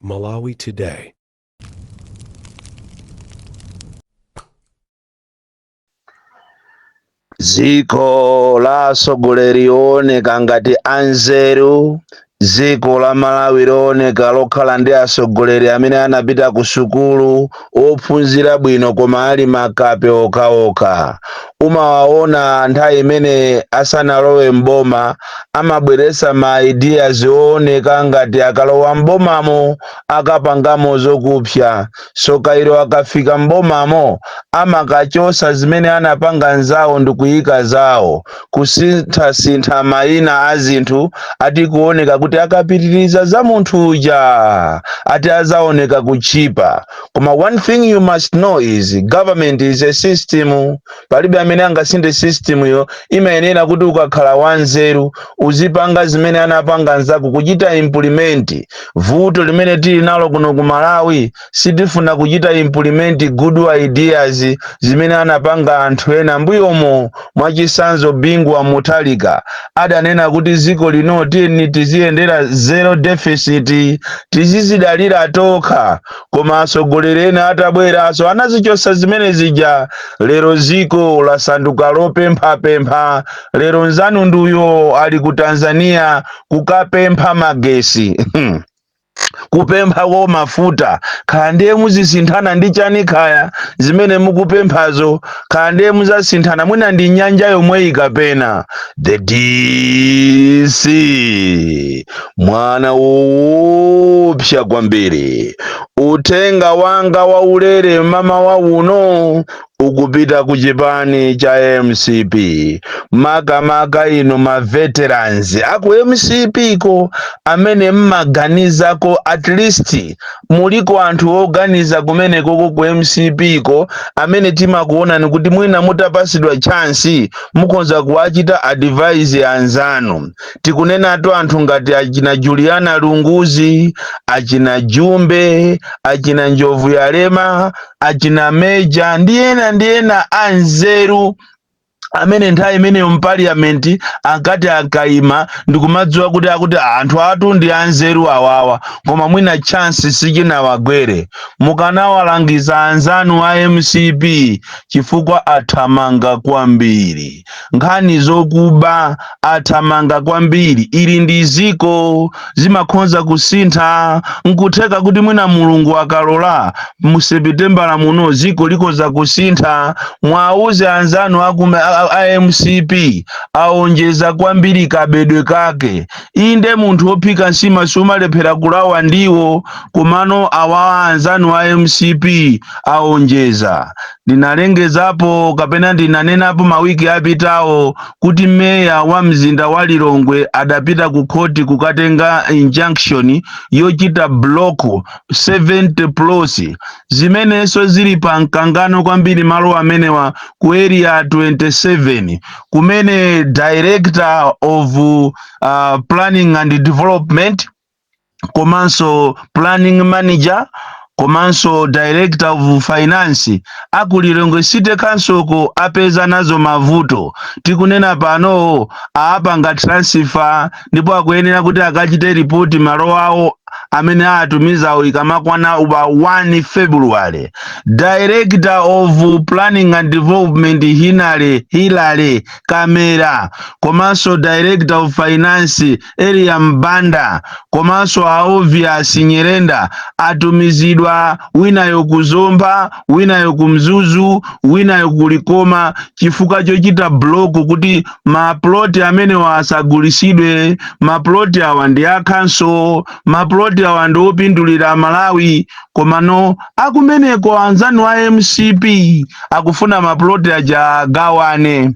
Malawi Today. dziko la atsogoleri ooneka ngati anzeru dziko la malawi looneka lokhala ndi atsogoleri amene anapita ku sukulu ophunzira bwino koma ali makape okhaokha umawaona nthawi imene asanalowe m'boma amabweretsa ma ideas ooneka ngati akalowa m'bomamo akapangamo zokupsa so kairo akafika m'bomamo amakachosa zimene anapanga nzawo ndikuyika zawo kusinthasintha mayina a zinthu ati kuoneka kuti akapitiriza za munthu uja ati azaoneka kuchipa koma one thing you must know is government is a system palibe amene angasinthe system yo imayenera kuti ukakhala wanzeru uzipanga zimene anapanga nzako kuchita implement vuto limene tili nalo kuno ku malawi sitifuna kuchita implement good ideas zimene anapanga anthu ena mbuyomo mwachisanzo bingu wa mutharika adanena kuti ziko lino tiyeni tiziyendera zero deficit tizizidalira tokha koma atsogoleri ena atabweranso anazichosa zimene zija lero ziko lasanduka lopemphapempha lero nzanu nduyo ali ku tanzania kukapempha magesi kupemphako mafuta kaya ndiye muzisinthana ndi chani kaya zimene mukupemphazo kaya ndiye muzasinthana mwina ndi nyanja yomweyi kapena the dc mwana woopsa kwambiri uthenga wanga waulere mamawa uno ukupita ku chipani cha mcp makamaka inu ma veterans aku mcp ko amene mmaganiza ko at least muliko anthu oganiza kumene koko ku mcp ko amene timakuonani kuti mwina mutapasidwa chance mukhonza kuwachita advise anzanu tikunenatu anthu ngati achina juliana lunguzi achina jumbe achina njovuyalema achina meja ndi ena ndi ena anzeru amene nthawi imeneyo mpaliyamenti akati akaima ndikumadziwa kuti akuti anthu awatu ndi anzeru awawa koma mwina chansi sichinawagwere mukanawalangiza anzanu a mcp chifukwa athamanga kwambiri nkhani zokuba athamanga kwambiri ili ndi ziko zimakhonza kusintha nkutheka kuti mwina mulungu akalola mu sepitembala muno ziko likhoza kusintha mwauze anzanu akume a, a mcp aonjeza kwambiri kabedwe kake inde munthu ophika nsima sumalephera kulawa ndiwo komano awa anzanu a mcp aonjeza Ndinalengezapo kapena ndinanenapo mawiki apitawo kuti meya wa mzinda wa Lilongwe adapita ku khoti kukatenga injunction yochita block 70 plots zimenenso zili pa mkangano kwambiri malo amenewa ku area 27 kumene director of uh, planning and development komanso planning manager komanso director of finance aku Lilongwe City Council ko apeza nazo mavuto tikunena pano aapanga transfer ndipo akuyenera kuti akachite ripoti malo awo amene aatumizawo ikamakwana pa 1 February director of planning and development Hinale Hilale Kamera komanso director of finance Eliya Mbanda komanso a Obvious Nyerenda atumizidwa winayo ku Zomba, winayo ku Mzuzu, winayo ku Likoma chifukwa chochita block kuti maploti amenewa asagulisidwe. Maploti awa ndi akhanso, maploti awa ndi opindulira Malawi. Komano akumeneko anzanu a mcp akufuna maploti aja agawane.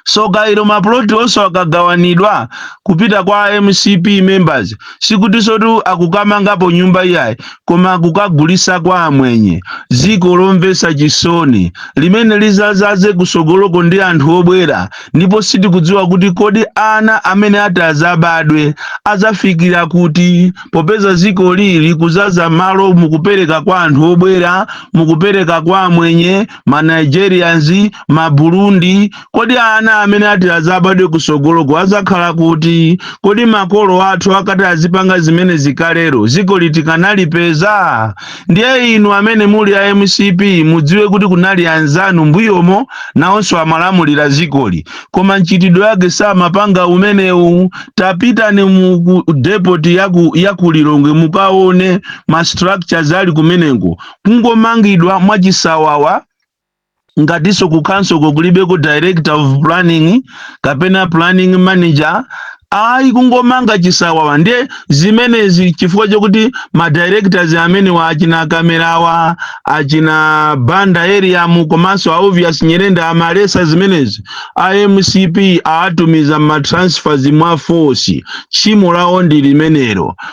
soka ilo maploti onso akagawanidwa kupita kwa a mcp members sikutinsotu akukamangapo nyumba iyayi koma akukagulisa kwa amwenye ziko lomvesa chisoni limene lizazaze kusogoloko ndi anthu obwera ndipo sitikudziwa kuti kodi ana amene ati azabadwe azafikira kuti popeza dziko lili kuzaza malo mukupereka kwa anthu obwera mukupereka kwa amwenye ma nigerians ma burundi kodi ana amene ati azabadwe kusogoloko azakhala kuti kodi makolo athu akati azipanga zimene zikalero zikoli tikanalipeza ndiye inu amene muli a mcp mudziwe kuti kunali anzanu mbuyomo nawonso amalamulira zikoli koma mchitidwe wake samapanga umenewu tapitani mu ku- depoti yaku, yaku lilongwe mukaone ma structures ali kumeneko kungomangidwa mwachisawawa ngatinso kukhansoloko kulibeko director of planning kapena planning manager ayi kungomanga chisawawa ndiye zimenezi chifukwa chakuti ma directors amenewa achina kamerawa achina banda eriamu komanso a obvious nyirenda amaletsa zimenezi a mcp aatumiza ma transfers mwa force tchimo lawo ndi limenelo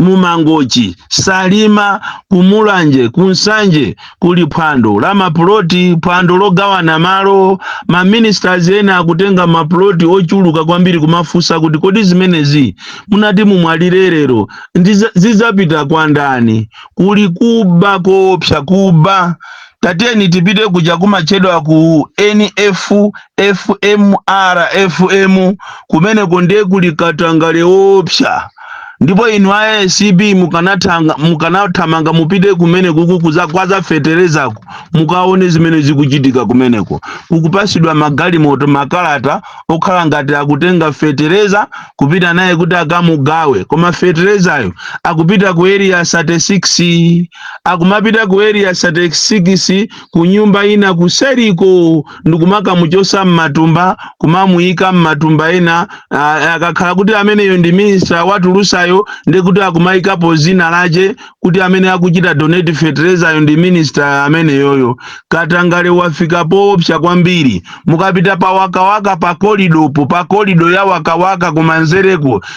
mu Mangochi, Salima, ku Mulanje, ku Nsanje kuli phwando la mapuloti, phwando logawana malo. Ma ministers ena akutenga mapuloti ochuluka kwambiri kumafunsa kuti kodi zimenezi munati mumwalire lero zidzapita kwa ndani? Kuli kuba koopsa, kuba Tatiyeni tipite kuja kumatchedwa ku NF, FM, RFM, kumeneko ndiye kuli katangale woopsa. Ndipo inu a ACB mukanathamanga mupite kumeneko kukuza kwa za feterezako mukaone zimene zikuchitika kumeneko. Kukupasidwa magalimoto makalata okhala ngati akutenga fetereza kupita naye kuti akamugawe, koma feterezayo akupita ku area 36. akumapita ku area 36 ku nyumba ina kuseriko ndikumakamuchosa mmatumba kumamuyika mmatumba ena akakhala kuti ameneyo ndi minister watulusayo nde kuti akumayikapo zina lache kuti amene akuchita donate feterezayo ndi minister ameneyoyo katangale wafika poopsa kwambiri mukapita pa wakawaka pa kolidopo pa kolido ya wakawaka kumanzereko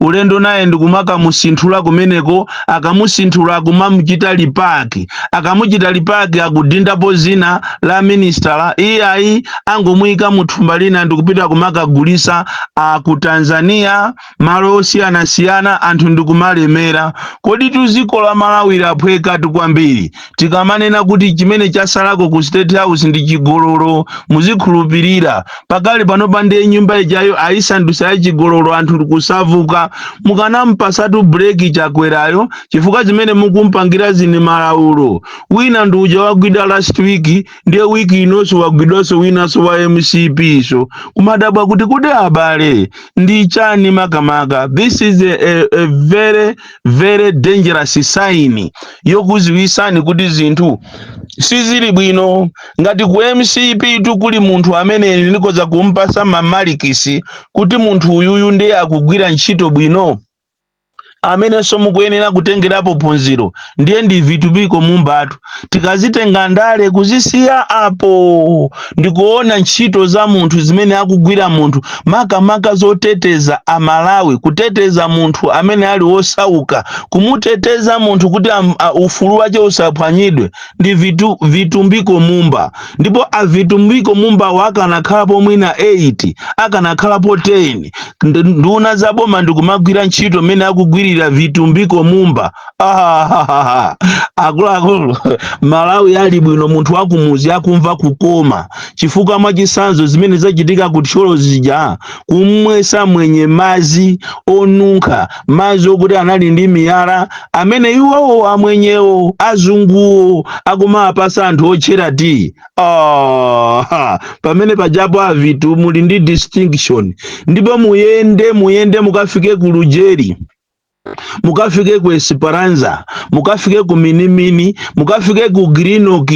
ulendo naye ndikumakamusinthula kumeneko akamusinthula akumamuchita lipaki akamuchita lipaki akudindapo zina la minister iyayi angomuyika mu thumba lina ndikupita kumakagulisa a ku tanzania malo osiyanasiyana anthu ndikumalemera kodi tu dziko la malawi laphwekatu kwambiri tikamanena kuti chimene chasalako ku state house ndi chigololo muzikhulupirira pakali pano pano ndiye nyumba ijayo ayisandusa ya chigololo anthu kuzavuka mukanampasatu breki chakwerayo chifukwa zimene mukumpangira zi ndi malaulo wina ndi uja wagwidwa last week ndiye wiki inonso wagwidwanso winanso wa mcp nso kumadabwa kuti kodi abale ndi chani makamaka this is a, a, a very very dangerous sign yokuziwisani kuti zinthu sizili bwino ngati ku mcp tu kuli munthu amene ndikoza kumpasa mamalikisi kuti munthu uyuyu ndiye akugwira ntchito bwino amenenso mukuyenera kutengerapo phunziro ndiye ndi vitumbiko mumbatu tikazitenga ndale kuzisiya apo ndikuona ntchito za munthu zimene akugwira munthu makamaka zoteteza amalawi kuteteza munthu amene ali wosauka kumuteteza munthu kuti am, a, ufulu wache usaphwanyidwe ndi vitu, vitumbiko mumba ndipo avitumbiko mumbawo akanakhalapo mwina 8 akanakhalapo 10 ndi nduna za boma ndikumagwira ntchito mmene akugwirira vitumbiko mumba Ah, akuluakulu malawi ali bwino munthu wakumuzi akumva kukoma chifukwa mwachisanzo zimene zachitika ku thyolo zija kumwesa mwenye mazi onunkha mazi okuti anali ndi miyala amene iwowo amwenyewo azunguwo akumawapasa anthu otchera ti oh, ha, pamene pajapo avitu muli ndi distinction ndipo muyende muyende mukafike ku lujeri mukafike ku Esperanza, mukafike ku Minimini, mukafike ku Greenock,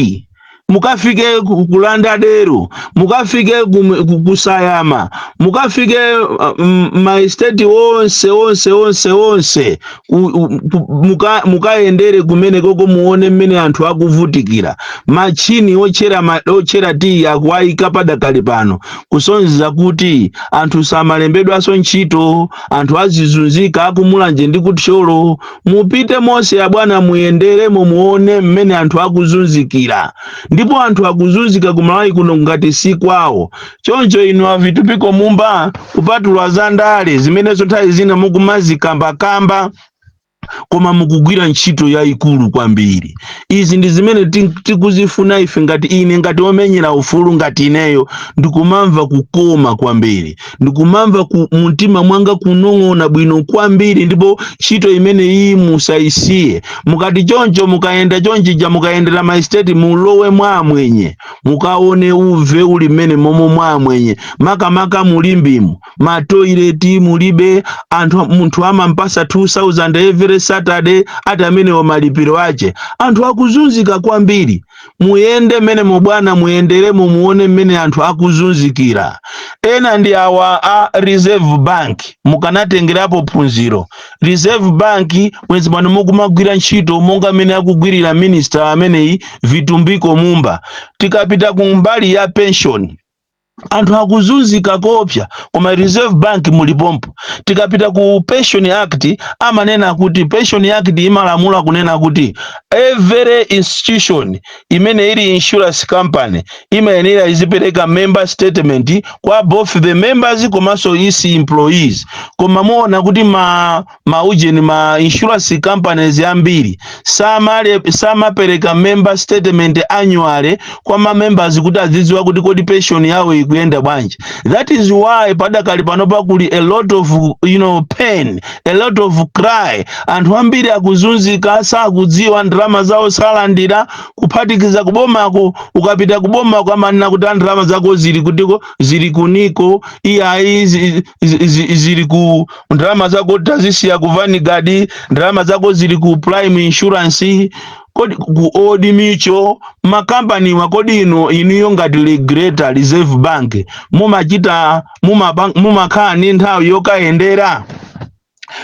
mukafike ku ku Lauderdale, mukafike ku, ku, ku Sayama, mukafike uh, m- maesteti onse onse onse onse ku, u- ku, muka, mukayendere kumene koko muone mmene anthu akuvutikira machini ochera ma- ochera tiyi akuwayika padakali pano kusonyeza kuti anthu samalembedwanso ntchito anthu azizunzika akumulanje ndi ku thyolo mupite mose abwana muyenderemo muone mmene anthu akuzunzikira ndipo anthu akuzunzika ku malawi kuno ngati si kwawo choncho inu avitumbiko mumba kupatula za ndale zimenezo nthawi zina mukumazikambakamba koma mukugwira ntchito yayikulu kwambiri izi ndi zimene ti- tikuzifuna ife ngati ine ngati omenyera ufulu ngati ineyo ndikumamva kukoma kwambiri ndikumamva mu mtima mwanga kunong'ona bwino kwambiri ndipo ntchito imene iyi musayisiye mukati choncho mukayenda chonchija mukayendera maesiteti mulowe mwa amwenye mukaone uve uli mmene momo mwa amwenye makamaka mulimbimu matoileti mulibe munthu amampasa 2000 every saturday ati amenewo malipiro ache anthu akuzunzika kwambiri muyende mmenemo bwana muyenderemo muone mmene anthu akuzunzikira ena ndi awa a reserve bank mukanatengerapo phunziro reserve bank bwenzi pano mukumagwira ntchito monga mmene akugwirira minister ameneyi vitumbiko mumba tikapita ku mbali ya pension anthu akuzunzika koopsya koma reserve bank mulipompo tikapita ku pension act amanena kuti pension act imalamula kunena kuti every institution imene ili insurance company imayenera izipereka member statement kwa both the members komanso its employees koma muona kuti ma ma ujeni ma insurance companies ambiri samale samapereka member statement annually kwa ma members kuti azidziwa kuti kodi pension yawo ikuyenda bwanji that is why padakali panopa kuli a lot of you know pain a lot of cry anthu ambiri akuzunzika sakudziwa ndalama zawo salandira kuphatikiza kubomako ukapita kubomako amanena kuti ndalama zako zili kutiko zili ku nico iyayi zi- zi- zi- zili ku ndalama zako tazisiya ku vanguard ndalama zako zili ku prime insurance kodi ku old mutual makampaniwa kodi ino inuyo ngati regulator reserve bank mumachita mumaba- mumakhala ni nthawi yokayendera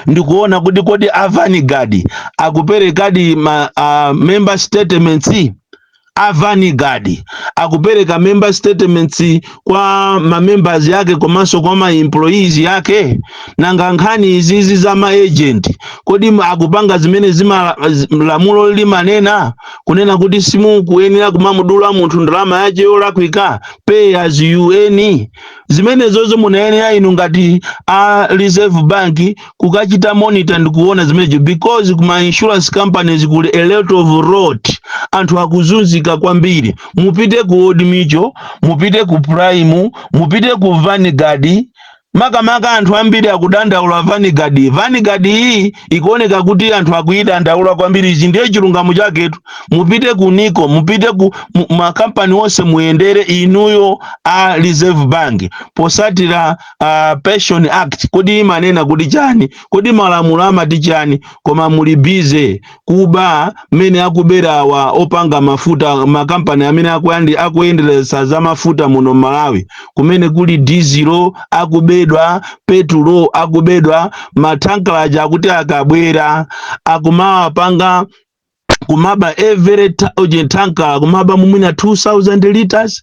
ndikuona kuti kodi a vanguard akuperekadi ma uh, member statements a vanguard akupereka member statements kwa ma members yake komanso kwa ma employees yake nanga nkhani izizi za ma agent kodi ma- akupanga zimene zima zi- lamulo limanena kunena kuti simukuyenera kumamudula munthu ndalama yache yolakwika pay as you earn zimenezozo munayenera inu ngati a reserve bank kukachita monitor ndi kuona zimenezo because kuma insurance companies kuli a lot of rot anthu akuzunzika kwambiri mupite ku old mutual mupite ku prime mupite ku vanguard makamaka anthu ambiri akudandaula vanguard vanguard iyi ikuoneka kuti anthu akuyidandaula kwambiri ichi ndiye chilungamo chaketu mupite ku nico mupite ku mu- makampani onse muyendere inuyo a reserve bank posatira uh, pension act kodi imanena kuti chani kodi malamulo amati chani koma muli busy kuba mmene akubera awa opanga mafuta makampani amene akuyandi akuyenderesa za mafuta muno Malawi kumene kuli dizilo akubedwa petulo akubedwa mathankala aja akuti akabwera akumawapanga kumaba every ta- uje thankala kumaba mwina 2000 liters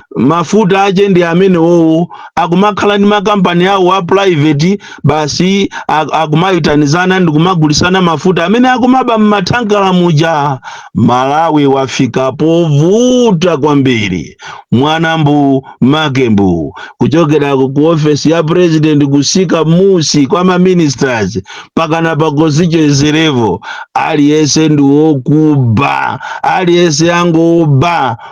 mafuta ache ndi amene wowo akumakhala ndi makampani awo a private basi ak- akumayitanizana ndi kumagulisana mafuta amene akumaba m'mathankala muja malawi wafika povuta kwambiri mwana mbu make mbu kuchokera ku ku ofesi ya president kusika musi kwa ma ministers pakana pa constituency level aliyense ndi wokuba aliyense angoba